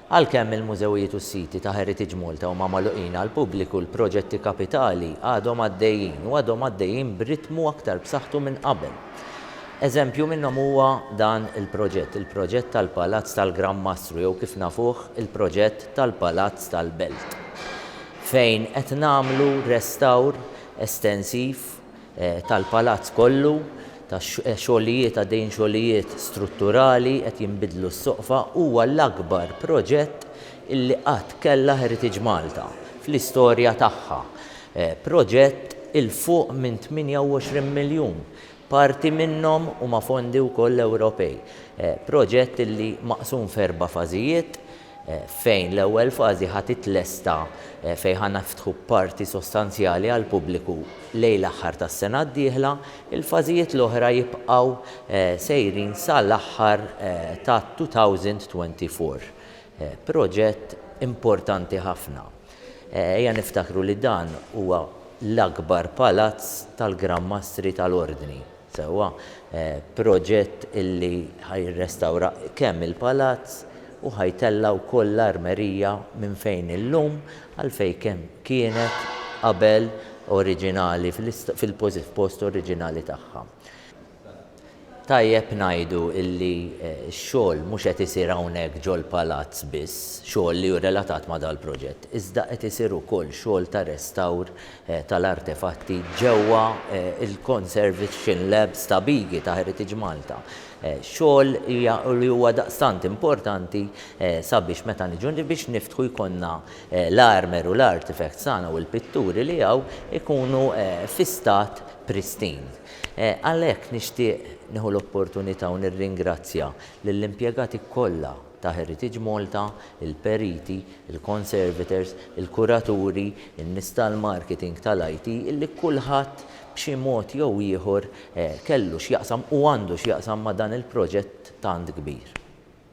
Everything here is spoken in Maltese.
Għalkemm il-mużewijiet u s-siti ta' Heritage Malta huma magħluqin għall-pubbliku, l-proġetti kapitali għadhom għaddejjin u għadhom għaddejjin b'ritmu aktar b'saħħtu minn qabel. Eżempju minnhom huwa dan il-proġett, il-proġett tal-Palazz tal-Gran Mastru jew kif nafuh il-proġett tal-Palazz tal-Belt fejn qed nagħmlu restawr estensiv tal-palazz kollu ta' xogħlijiet għaddejjin xogħlijiet strutturali qed jinbidlu s-soqfa huwa l-akbar proġett illi qatt kellha Heritage Malta fl-istorja tagħha proġett 'il fuq minn 28 miljun parti minnhom huma fondi wkoll Ewropej proġett illi maqsum f'erba' fażijiet fejn l-ewwel fażi ħa titlesta fejn ħa niftħu parti sostanzjali għall-pubbliku lejn l-aħħar tas-sena d-dieħla, il-fażijiet l-oħra jibqgħu sejrin sa l-aħħar tat-2024. Proġett importanti ħafna. Ejja niftakru li dan huwa l-akbar palazz tal-Gran Mastri tal-Ordni. Sewwa, proġett illi ħa jirrestawra kemm il-palazz u ħa jtella' wkoll l-armerija minn fejn illum għal fejn kemm kienet qabel oriġinali fil-post oriġinali tagħha. Tajjeb ngħidu illi x-xogħol mhux qed isir hawnhekk ġol-palazz biss, xogħol li hu relatat ma' dal-proġett, iżda qed isir ukoll xogħol ta' restawr tal-artefatti ġewwa l-Conservation Labs ta' Bigi ta' Heritage Malta, xogħol li huwa daqstant importanti sabiex meta niġu biex niftħu jkollna l-armer u l-artefacts tagħna u l-pitturi li hawn ikunu fi stat pristine. Għalhekk nixtieq nieħu l-opportunità u nirringrazzja lill-impjegati kollha, ta' Heritage Malta, il-periti, il-conservators, il-kuraturi, in-nies tal-marketing, tal-IT, illi kulħadd b'xi mod jew ieħor kellu x'jaqsam u għandu x'jaqsam ma' dan il-proġett tant kbir.